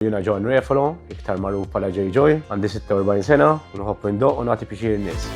Jiena John Refalo, iktar magħruf bħala Jay Joy, għandi 46 sena u nħobb indoqq u nagħti pixir in-nies.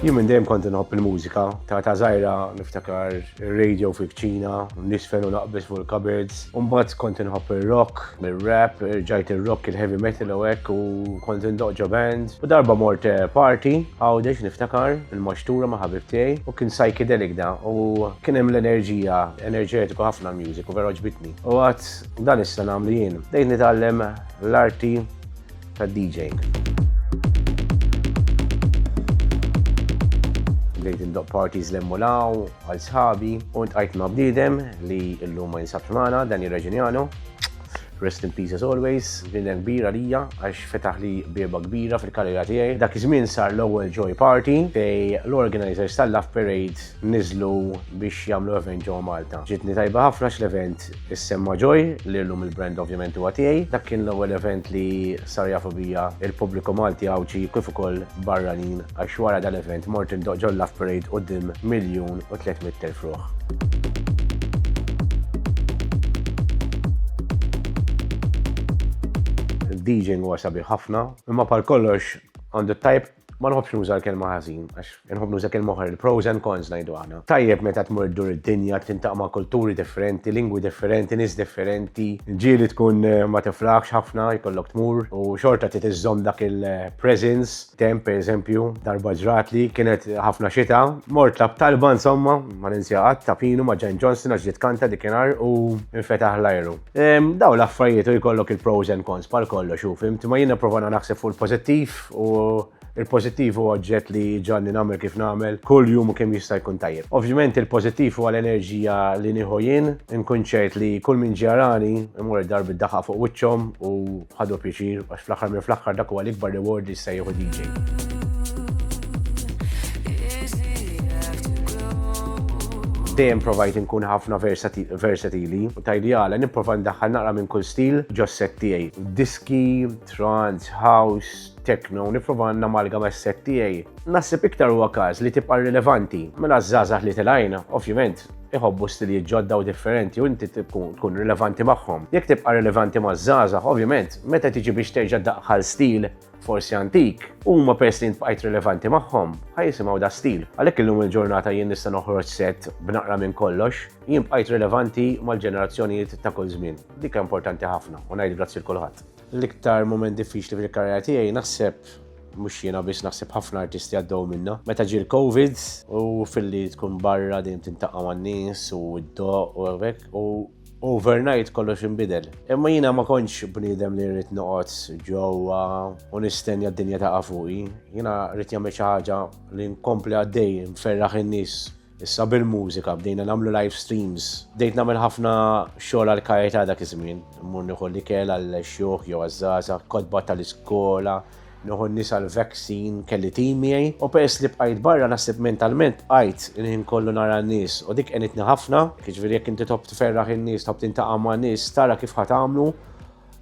Jien minn dejjem kont inħobb il-mużika, ta' ta' żgħira niftakar ir-radio fil-kċina, nisfen u naqbeż fuq il-cupboards, Umbagħad kont inħobb ir-rock, mir-rap, ġajt ir-rock il-heavy metal u hekk u kont indoq ġo band. U darba mort eh, party, għawdex niftakar, il-maxtura ma' ħabib tiegħi u kien psychedelic da u kien hemm l-enerġija, enerġetiku ħafna l-music u vera ġbitni. U għad dan issa nagħmlu jien. Dejt nitgħallem l-arti tad-DJing. Bdejt indoqq parties 'l hemm u 'l hawn għal sħabi u ltqajt ma' bniedem li llum ma jinsabx magħna, Danny Regignano. Rest in peace as always. Bniedem kbir għalija għax fetaħli bieba kbira fil-karriera tiegħi. Dak iż-żmien sar l-ewwel Joy Party fejn l-organizers tal-Love Parade niżlu biex jagħmlu event ġewwa Malta. Ġietni tajba ħafna x'l-event issemma Joy li llum il-brand ovvjament huwa tiegħi. Dak kien l-ewwel event li sar jafu bija l-pubbliku Malti Għawdxi kif ukoll barranin għax wara dal-event mort indoqq ġol-Love Parade quddiem miljun u tliet mitt elf ruħ. Il-DJing huwa sabiħ ħafna, imma bħal kollox għandu t-tajb Ma nħobbx nuża l-kelma ħażin, għax nħobb nuża kelma oħra, il-pros and cons ngħidu aħna. Tajjeb meta tmur dur id-dinja, tintaq ma' kulturi differenti, lingwi differenti, nies differenti, ġieli tkun eh, ma tiflaħx ħafna jkollok tmur u xorta trid iżżomm dak il-presence. Temp pereżempju, darba ġrat li kienet ħafna xita, mort lab talba insomma, ma ninsja qatt ta' pinu ma' Jan Johnson għax ġiet kanta dikinhar u infetaħ l-ajru. Daw l-affarijiet u jkollok il-pros and cons par kollox u fimt, ma jina provana naħseb fuq il-pozittiv u il-pozittiv u oġġett li ġanni namel kif namel, kull jum u kem jista' jkun tajjeb. Ovvjament il-pozittiv u għal-enerġija li nieħu jien, nkun ċert li kull min ġarani imur darbi daħaq fuq wiċċhom u Ħadu pjaċir għax fl-aħħar minn fl-aħħar dak huwa l-ikbar reward li jista' jieħu DJ. dejjem provajt nkun ħafna versatili u tajdjala nipprova ndaħħal naqra minn kull stil ġosset tiegħi. Diski, trance, house, techno, nipprova namalga ma' set tiegħi. Naħseb iktar huwa każ li tibqa' rilevanti mela żgħażagħ li tilajna, ovvjament, iħobbu stilijiet ġodda u differenti u inti tkun rilevanti magħhom. Jekk tibqa' rilevanti maż-żgħażagħ, ovvjament, meta tiġi biex terġa' daħħal stil forsi antik, huma peress li bqajt rilevanti magħhom, ħajsimgħu da stil. Għalhekk illum il-ġurnata jien nista' noħroġ set b'naqra minn kollox, jien bqajt rilevanti mal-ġenerazzjonijiet ta' kull żmien. Dik importanti ħafna u ngħid grazzi l kulħadd. L-iktar mument diffiċli fil-karriera tiegħi naħseb mhux jiena biss naħseb ħafna artisti għaddew minna. Meta ġie l-Covid u filli tkun barra din tintaqa' man-nies u d-doq u hekk u overnight kollox inbidel. Imma jiena ma kontx bniedem li rrid noqgħod ġewwa u nistenja d-dinja taqa' fuqi. Jiena rrid jagħmel xi ħaġa li nkompli għaddej nferraħ in-nies Issa bil-mużika bdejna nagħmlu live streams. Bdejt nagħmel ħafna xogħol għal karità dak iż-żmien. Mmur nieħu l-ikel għall-xjuħ jew għaż-żgħażagħ, kotba tal-iskola, nieħu n-nies għall-vaccine, kelli tim miegħi. U peress li bqajt barra naħseb mentalment bqajt il-ħin kollu nara n-nies u dik għenitni ħafna. Jiġifieri jekk inti tħobb tferraħ in-nies, tħobb tintaqa' ma' nies, tara kif ħa tagħmlu.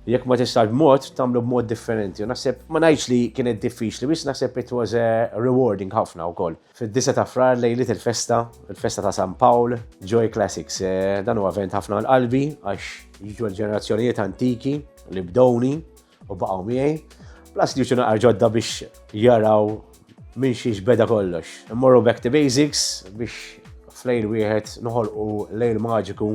Jekk ma tistax b'mod, tagħmlu b'mod differenti. U naħseb ma ngħidx li kienet diffiċli, biss naħseb it was rewarding ħafna wkoll. Fid-disa' ta' Frar lejliet il-festa, il-festa ta' San Pawl, Joy Classics. Eh, dan huwa event ħafna għal qalbi għax jiġu l-ġenerazzjonijiet antiki li bdowni u baqgħu miegħi. Plus li jiġu naqar ġodda biex jaraw minn xiex beda kollox. Immorru back to basics biex flejl wieħed noħolqu lejl maġiku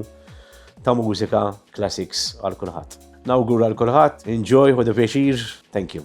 ta' mużika classics għal kulħadd. Nawgura għal kulħadd, enjoy u pjaċir, thank you.